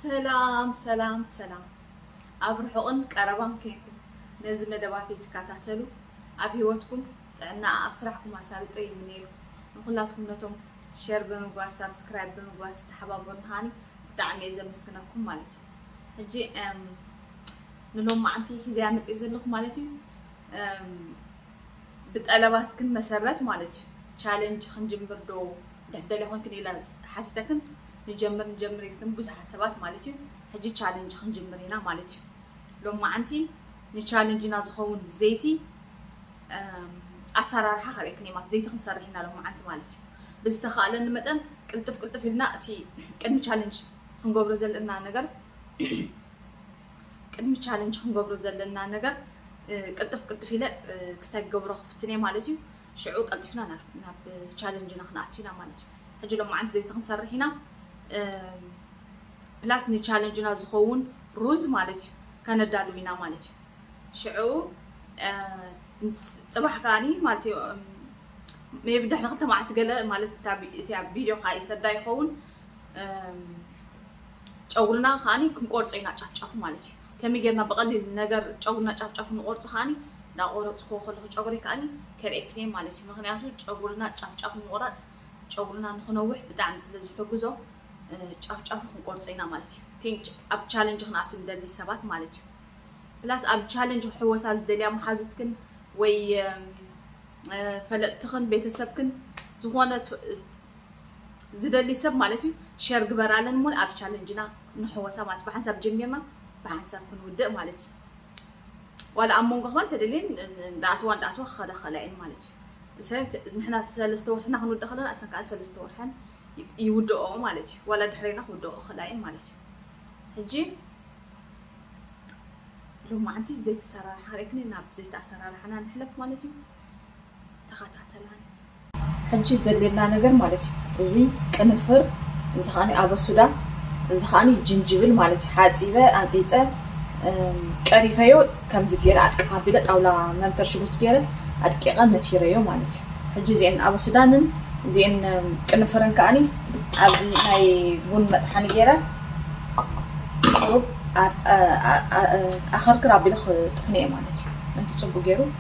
ሰላም ሰላም ሰላም ኣብ ርሑቕን ቀረባን ኮይንኩም ነዚ መደባት እትከታተሉ ኣብ ህይወትኩም ጥዕና ኣብ ስራሕኩም ኣሳልጦ ይምነየልኩም ንኩላትኩም ነቶም ሸር ብምግባር ሳብስክራይብ ብምግባር ተተሓባበሩን ሃኒ ብጣዕሚ እየ ዘመስግነኩም ማለት እዩ ሕጂ ንሎማዓንቲ ሒዘያ መፅእ ዘለኹ ማለት እዩ ብጠለባትክን መሰረት ማለት እዩ ቻለንጅ ክንጅምር ዶ እንተ ትደልያ ኮንክን ኢላ ሓቲተክን ንጀምር ንጀምር ኢልክን ብዙሓት ሰባት ማለት እዩ ሕጂ ቻለንጅ ክንጅምር ኢና ማለት እዩ ሎማዓንቲ ንቻለንጅና ዝኸውን ዘይቲ ኣሰራርሓ ከርእክን እየ ማለት ዘይቲ ክንሰርሕ ኢና ሎማዓንቲ ማለት እዩ ብዝተኻእለኒ መጠን ቅልጥፍ ቅልጥፍ ኢልና እቲ ቅድሚ ቻለንጅ ክንገብሮ ዘለና ነገር ቅድሚ ቻለንጅ ክንገብሮ ዘለና ነገር ቅልጥፍ ቅልጥፍ ኢለ ክስታይ ክገብሮ ክፍትን እየ ማለት እዩ ሽዑ ቀልጢፍና ናብ ናብ ቻለንጅና ክንኣቱ ኢና ማለት እዩ ሕጂ ሎማዓንቲ ዘይቲ ክንሰርሕ ኢና ፕላስ ንቻለንጅና ዝኸውን ሩዝ ማለት እዩ ከነዳሉ ኢና ማለት እዩ ሽዑ ፅባሕ ከዓኒ ማለት እዩ ሜቢ ድሕሪ ክልተ መዓልቲ ገለ ማለት እቲ ኣብ ቪድዮ ከዓ ይሰዳ ይኸውን ጨጉርና ከዓኒ ክንቆርፆ ኢና ጫፍጫፉ ማለት እዩ ከመይ ጌርና ብቐሊል ነገር ጨጉርና ጫፍ ጫፉ ንቖርጾ ከኣ ዳቆረጽክዎ ከለኹ ጨጉረይ ከኣ ከርእየክንየ ማለት እዩ ምኽንያቱ ጨጉርና ጫፍ ጫፉ ምቑራጽ ጨጉርና ንኽነውሕ ብጣዕሚ ስለ ዝሕግዞ ጫፍ ጫፉ ክንቆርጾ ኢና ማለት እዩ ቲንጭ ኣብ ቻለንጅ ክንኣቱ ንደሊ ሰባት ማለት እዩ ፕላስ ኣብ ቻለንጅ ክሕወሳ ዝደልያ መሓዙትክን ወይ ፈለጥትኽን ቤተሰብክን ዝኾነ ዝደሊ ሰብ ማለት እዩ ሸር ግበራለን እሞ ኣብ ቻለንጅና ንሕወሳ ማለት ብሓንሳብ ጀሚርና ብሓንሳብ ክንውድእ ማለት እዩ ዋላ ኣብ መንጎ ክባን ተደልየን እንዳኣተዋ እንዳኣተዋ ክኸዳ ክኽእላ እየን ማለት እዩ እሰን ንሕና ሰለስተ ወርሕና ክንውድእ ከለና እሰን ከዓ ሰለስተ ወርሐን ይውድኦ ማለት እዩ ዋላ ድሕሬና ክውድኦ ክኽእላ እየን ማለት እዩ ሕጂ ሎማዓንቲ ዘይተሰራርሓ ርክኒ ናብ ዘይተኣሰራርሓና ንሕለፍ ማለት እዩ ተኸታተላኒ። ሕጂ ዘድልየና ነገር ማለት እዩ እዚ ቅንፍር እዚ ከዓኒ ኣበሱዳ እዚ ከዓኒ ጅንጅብል ማለት እዩ ሓፂበ ኣንቂፀ ቀሪፈዮ ከምዚ ገይረ ኣድቅቕ ኣቢለ ጣውላ መንተር ሽጉርቲ ገይረ ኣድቂቐ መቲረዮ ማለት እዩ ሕጂ እዚአን ኣበሱዳንን እዚአን ቅንፍርን ከዓኒ ኣብዚ ናይ ቡን መጥሓኒ ገይረ ቁሩብ ኣኸርክር ኣቢለ ክጥሕኑ እየ ማለት እዩ ምንቲ ፅቡቅ ገይሩ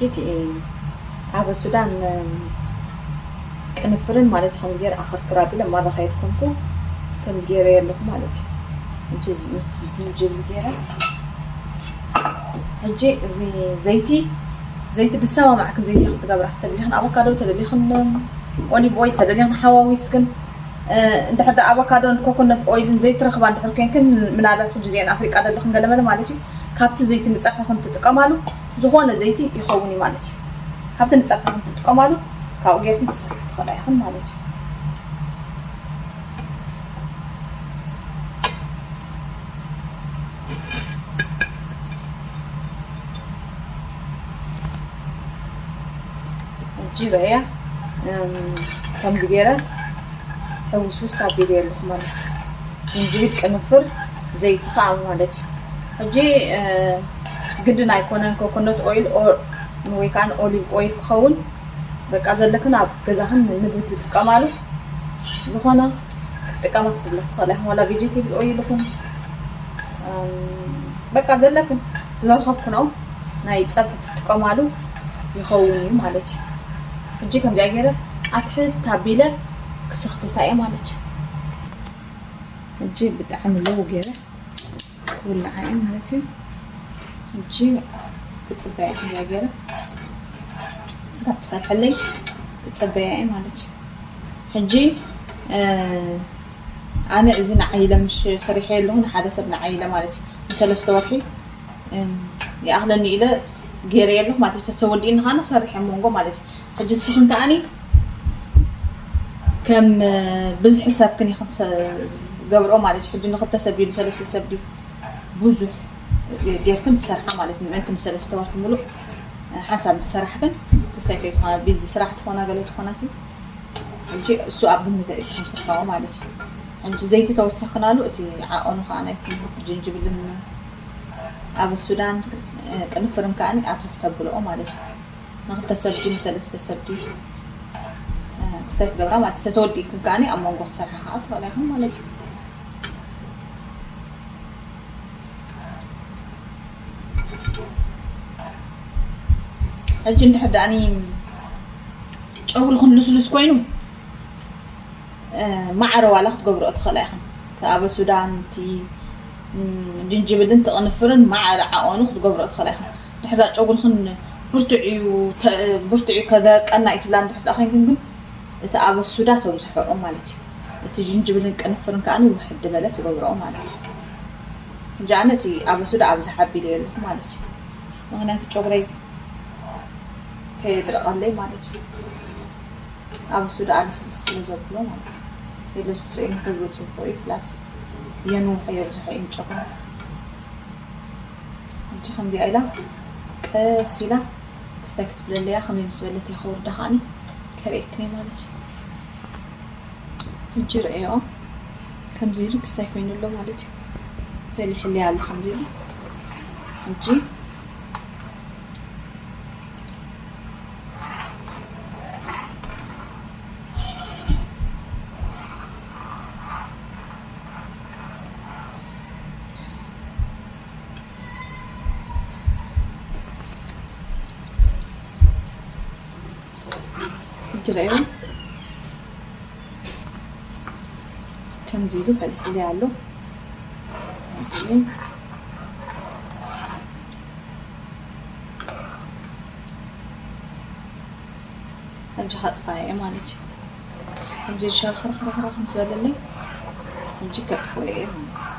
ጂቲኤ ኣብ ሱዳን ቅንፍርን ማለት ከምዚ ገይረ ኣኸርክር ኣቢለ ማራ ከየድ ኮንኩ ከምዚ ገይረ ኣለኹ ማለት እዩ ምስቲ ዝንጅብል ገይረ ሕጂ እዚ ዘይቲ ዘይቲ ድሳባ ማዕክን ዘይቲ ክትገብራ ተደሊኽን ኣቮካዶ ተደሊኽን ኦሊቭ ኦይል ተደሊኽን ሓዋዊስክን እንድሕር ዳኣ ኣቮካዶን ኮኮነት ኦይልን ዘይትረኽባ እንድሕር ኮንክን ምናልባት ሕጂ እዚአን ኣፍሪቃ ደለኽን ገለመለ ማለት እዩ ካብቲ ዘይቲ ንፀብሕኽን ትጥቀማሉ ዝኾነ ዘይቲ ይኸውን እዩ ማለት እዩ ካብቲ ንፀብሕኽን ትጥቀማሉ ካብኡ ጌርክን ክሰርሓ ትኽእላ ኢኽን ማለት እዩ ጅበ እያ ከምዚ ገይረ ሕውስውስ ኣቢለ ኣለኹ ማለት እዩ ዝንጅብል ቅንፍር ዘይቲ ከዓ ማለት እዩ ሕጂ ግድን ኣይኮነን ኮኮነት ኦይል ወይ ከዓ ኦሊቭ ኦይል ክኸውን በቃ ዘለክን ኣብ ገዛኽን ምግቢ ትጥቀማሉ ዝኾነ ክትጥቀማ ትኽብላ ትኽእላ ኢኹም ዋላ ቬጀቴብል ኦይል ይኹን በቃ ዘለክን ዝረኸብክኖ ናይ ፀብሒ ትጥቀማሉ ይኸውን እዩ ማለት እዩ ሕጂ ከምዚኣ ገይረ ኣትሕት ታቢለ ክስኽትታ እየ ማለት እዩ ሕጂ ብጣዕሚ ለው ገይረ ክውልዓ እየ ማለት እዩ ሕጂ ክፅበያ ከምዚኣ ገይረ ስጋ ትፈትሐለይ ክፅበያ እየ ማለት እዩ ሕጂ ኣነ እዚ ንዓይ ኢለ ምሽ ሰሪሐዮ ኣለኹ ንሓደ ሰብ ንዓይ ኢለ ማለት እዩ ንሰለስተ ወርሒ ይኣኽለኒ ኢለ ገይረዮ ኣለኹ ማለት እዩ ተወዲእኒ ካነ ክሰርሕ እየ መንጎ ማለት እዩ ሕጂ ንስኽን ከዓኒ ከም ብዝሒ ሰብክን ኢኽን ገብርኦ ማለት እዩ ሕጂ ንኽልተ ሰብ ድዩ ንሰለስተ ሰብ ድዩ ብዙሕ ጌርክን ትሰርሓ ማለት እዩ ምእንቲ ንሰለስተ ወርሒ ሙሉእ ሓንሳብ ዝሰራሕክን ክስታይ ከይትኾና ቢዚ ስራሕ ትኾና ገለ ትኾና ሲ ሕጂ እሱ ኣብ ግምት ኣእትዩ ከም ስርካዊ ማለት እዩ ሕጂ ዘይቲ ተወሰክናሉ እቲ ዓቀኑ ከዓ ናይቲ ጅንጅብልን ኣብ ሱዳን ቅንፍርን ከዓ ኣብዝሕ ተብልኦ ማለት እዩ ንክልተ ሰብ ድዩ ንሰለስተ ሰብ ድዩ ክስታይ ትገብራ ማለት እዩ ተተወዲእክን ከዓ ኣብ መንጎ ክሰርሓ ከዓ ትኽእላ ይኹን ማለት እዩ ሕጂ እንድሕር ደኣኒ ጨጉርኽን ልስሉስ ኮይኑ ማዕረ ዋላ ክትገብርኦ ትኽእላ ኢኽን እቲ ኣበ ሱዳን እቲ ጅንጅብልን ትቕንፍርን ማዕረ ዓቐኑ ክትገብርኦ ትኽእላ ኢኽን ድሕር ጨጉርኽን ብርቱዕ እዩ ብርቱዕ እዩ ከደርቀና እዩ ትብላ እንድሕር ደኣ ኮይንክን ግን እቲ ኣበ ሱዳ ተብዝሐኦ ማለት እዩ እቲ ጅንጅብልን ቅንፍርን ከዓኒ ውሕድ በለ ትገብርኦ ማለት እዩ ሕጂ ኣነ እቲ ኣበሱ ደኣ ኣብዝሓ ኣቢለዮ ኣለኹ ማለት እዩ ምክንያቱ ጨጉረይ ከየድረቐለይ ማለት እዩ ኣበሱ ደኣ ልስልስ ስለ ዘብሎ ማለት እዩ የለስልሶ እዩ ንክብሩ ፅቡቅ እዩ ፕላስ የንውሖ የብዝሖ እዩ ጨጉረ ሕጂ ከምዚኣ ኢላ ቀስ ኢላ ክስታይ ክትብለለያ ከመይ ምስ በለት እየ ከወርዳ ከዓኒ ከርእየክኒ ማለት እዩ ሕጂ ርእዮ ከምዚ ኢሉ ክስታይ ኮይኑ ኣሎ ማለት እዩ ፈሊሕለይ ኣሎ ከምዚ ኢሉ ሕጂ ሕጂ ረኣዩ ከምዚ ኢሉ ፈሊሕለይ ኣሎ ሕጂ ከጥፋየ እየ ማለት እዩ ከምዚ ሸርኽርኽርኽርኽ ምስ በለለይ ሕጂ ከጥፍኦ እየ ማለት እዩ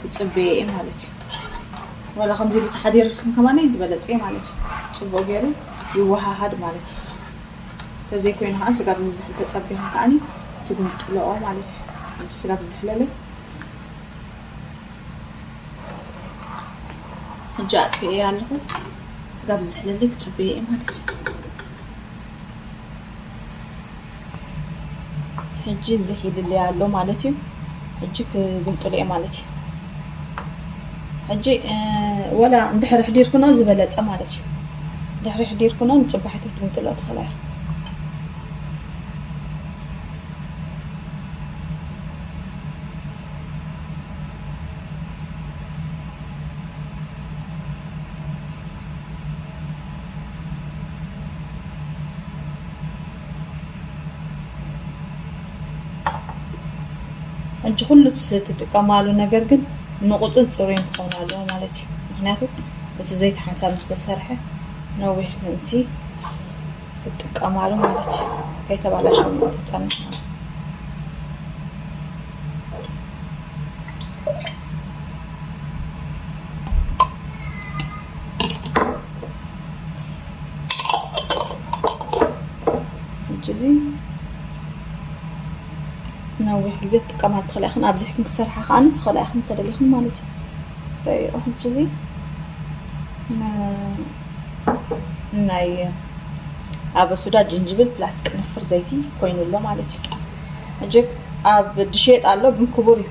ክጽበዮ እየ ማለት እዩ ዋላ ከምዚ ኢሉ ተሓዲርክን ከማነይ ዝበለጸ እዩ ማለት እዩ ጽቡቅ ጌሩ ይወሃሃድ ማለት እዩ ተዘይ ኮይኑ ከኣ ስጋብ ዝዝሕል ተጸቢክን ከኣኒ ትግምጥለኦ ማለት እዩ ሓንቲ ስጋብ ዝዝሕለለይ ሕጂ ኣጥፊኤያ ኣለኹ ስጋብ ዝዝሕለለይ ክጽበዮ እየ ማለት እዩ ሕጂ እዚ ሒልለይ ኣሎ ማለት እዩ ሕጂ ክግምጥሉ እየ ማለት እዩ ሕጂ ወላ እንድሕሪ ሕዲርክኖ ዝበለፀ ማለት እዩ ድሕሪ ሕዲርክኖ ንፅባሒት ክትግምጥሎ ትኽእላ ኢኹ ሕጂ ኩሉ ትጥቀማሉ ነገር ግን ንቑፅን ፅሩይን ክኾን ኣለዎ ማለት እዩ ምክንያቱ እቲ ዘይቲ ሓንሳብ ምስ ተሰርሐ ነዊሕ ምእንቲ ትጥቀማሉ ማለት እዩ ከይተባላሸው ትፀንሕ ማለት እዩ እዚ ነዊሕ ግዜ ክትጥቀማሉ ትኽእላ ኢኽን ኣብዚሕክን ክሰርሓ ከዓ ትኽእላ ኢኽን እንተደሊኽን ማለት እዩ ረእዮ ሕጂ እዚ ናይ ኣብ ሱዳ ጅንጅብል ፕላስ ቅንፍር ዘይቲ ኮይኑ ኣሎ ማለት እዩ ሕጂ ኣብ ድሽየጥ ኣሎ ግን ክቡር እዩ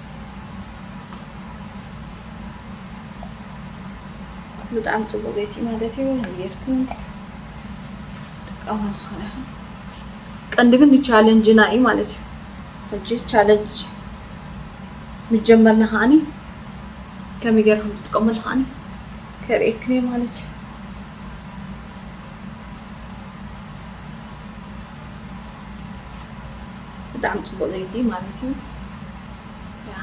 ብጣዕሚ ፅቡቅ ዘይቲ ማለት እዩ ንየትኩም ጥቀሙ ዝኮነ ይኹን ቀንዲ ግን ቻለንጅና እዩ ማለት እዩ ሕጂ ቻለንጅ ምጀመርና ከዓኒ ከመይ ገይረ ከም ዝጥቀመሉ ከዓኒ ከርእየክን እየ ማለት እዩ ብጣዕሚ ፅቡቅ ዘይቲ ማለት እዩ ያ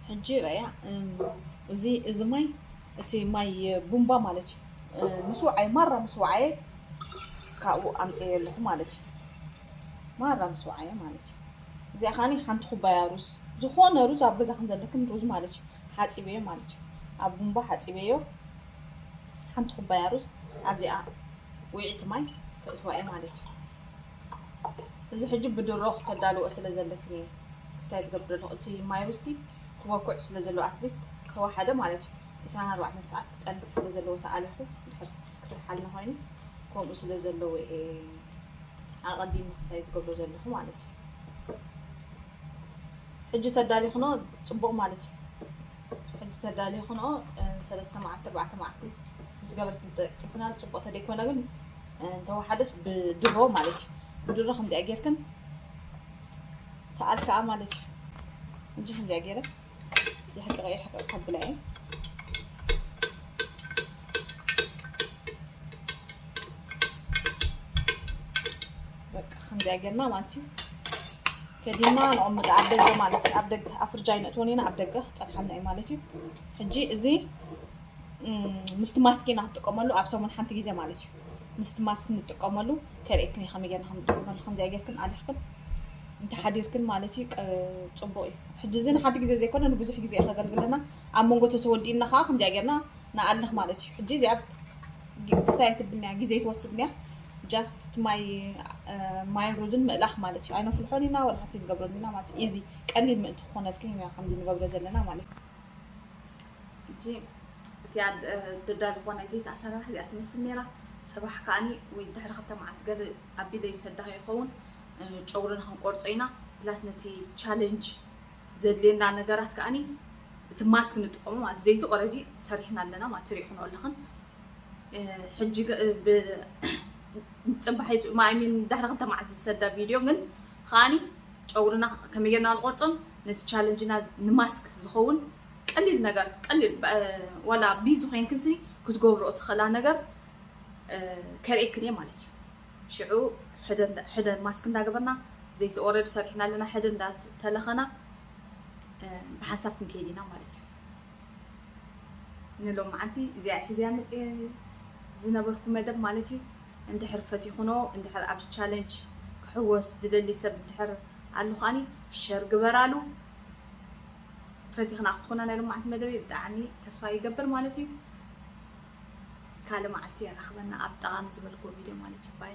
ሕጂ ረያ እዚ እዚ ማይ እቲ ማይ ቡምባ ማለት እዩ ምስ ውዓይ ማራ ምስ ውዓየ ካብኡ ኣምፀየ ኣለኹ ማለት እዩ ማራ ምስ ውዓየ ማለት እዩ እዚኣ ከዓኒ ሓንቲ ኩባያ ሩዝ ዝኾነ ሩዝ ኣብ ገዛኽን ዘለክን ሩዝ ማለት እዩ ሓፂበዮ ማለት እዩ ኣብ ቡምባ ሓፂበዮ ሓንቲ ኩባያ ሩዝ ኣብዚኣ ውዒቲ ማይ ከእትዋ እየ ማለት እዩ እዚ ሕጂ ብድሮ ክተዳልዎ ስለ ዘለኪ ነይ ስታይ ትገብሪ ኣለኹ እቲ ማይ ሩሲ ክቦኩዕ ስለ ዘለዎ ኣትሊስት ተዋሓደ ማለት እዩ ዕስራን ኣርባዕተን ሰዓት ክጸንሕ ስለ ዘለዎ ተኣሊኹ ድሕር ክስርሓልና ኮይኑ ከምኡ ስለ ዘለዎ እየ ኣቐዲም ክስታይ ትገብሮ ዘለኹ ማለት እዩ ሕጂ ተዳሊኽኖ ጽቡቕ ማለት እዩ ሕጂ ተዳልየ ክንኦ ሰለስተ መዓልቲ ኣርባዕተ መዓልቲ ምስ ገበርቲ ተጠቂፍናሉ ፅቡቅ ተደይኮነ ግን እንተወሓደስ ብድሮ ማለት እዩ ብድሮ ከምዚኣ ጌርክን ተኣል ከዓ ማለት እዩ እንጂ ከምዚኣ ጌረ የሕቅቀ የሕቅቅ ከብላ እየ በቃ ከምዚኣ ጌርና ማለት እዩ ከዲና ነቅምጦ ኣብ ደገ ማለት እዩ ኣብ ደገ ኣብ ፍርጃ ይነእትወን ኢና ኣብ ደገ ክፀንሓልና እዩ ማለት እዩ ሕጂ እዚ ምስቲ ማስክ ኢና ክንጥቀመሉ ኣብ ሰሙን ሓንቲ ግዜ ማለት እዩ ምስቲ ማስክ ንጥቀመሉ ከርእየክን እዩ ከመይ ጌርና ክንጥቀመሉ ከምዚኣ ጌርክን ኣሊኽክን እንተሓዲርክን ማለት እዩ ፅቡቅ እዩ ሕጂ እዚ ንሓንቲ ግዜ ዘይኮነ ንብዙሕ ግዜ ከገልግለና ኣብ መንጎ ተተወዲእና ከዓ ከምዚኣ ጌርና ንኣልኽ ማለት እዩ ሕጂ እዚኣ ስታይ ትብልናያ ግዜ ትወስድንያ ጃስት ማይ ማይን ሩዝን ምእላኽ ማለት እዩ ኣይነፍልሖን ኢና ወላ ሓንቲ ንገብረሉ ኢና ማለት እዩ ኢዚ ቀሊል ምእንቲ ክኾነልክን ኢና ከምዚ ንገብረ ዘለና ማለት እዩ ሕጂ እቲኣ ደዳሊ ዝኾነ ዘይት ኣሰራርሓ እዚኣ ትመስል ነይራ ፅባሕ ከዓኒ ወይ ድሕሪ ክልተ መዓልቲ ገለ ኣቢለ ይሰዳኸ ይኸውን ጨጉርና ክንቆርፆ ኢና ፕላስ ነቲ ቻለንጅ ዘድልየና ነገራት ከዓኒ እቲ ማስክ ንጥቀሙ ማለት ዘይቲ ኦረዲ ሰሪሕና ኣለና ማለት ትሪእኹኖ ኣለኽን ሕጂ ፅባሕ ማይሚን ድሕሪ ክልተ መዓልቲ ዝሰዳ ቪድዮ ግን ከዓኒ ጨጉርና ከመይ ጌርና ንቆርፆን ነቲ ቻለንጅና ንማስክ ዝኸውን ቀሊል ነገር ቀሊል ዋላ ቢዚ ኮይንክን ስኒ ክትገብርኦ ትኽእላ ነገር ከርእየክን እየ ማለት እዩ ሽዑ ሕደ ማስክ እንዳገበርና ዘይቲ ኦረድ ሰሪሕና ኣለና ሕደ እንዳተለኸና ብሓንሳብ ክንከይድ ኢና ማለት እዩ ንሎምዓንቲ እዚኣ ሒዘያ መፅየ ዝነበርኩ መደብ ማለት እዩ እንድሕር ፈቲኹኖ እንድሕር ኣብዚ ቻለንጅ ክሕወስ ዝደሊ ሰብ እንድሕር ኣሉ ከዓኒ ሸር ግበራሉ ፈቲኽና ክትኮና ናይ ሎምዓንቲ መደበይ ብጣዕሚ ተስፋ ይገብር ማለት እዩ ካልእ መዓልቲ የራኽበና ኣብ ጠቓሚ ዝበልክዎ ቪድዮ ማለት እዩ ባይ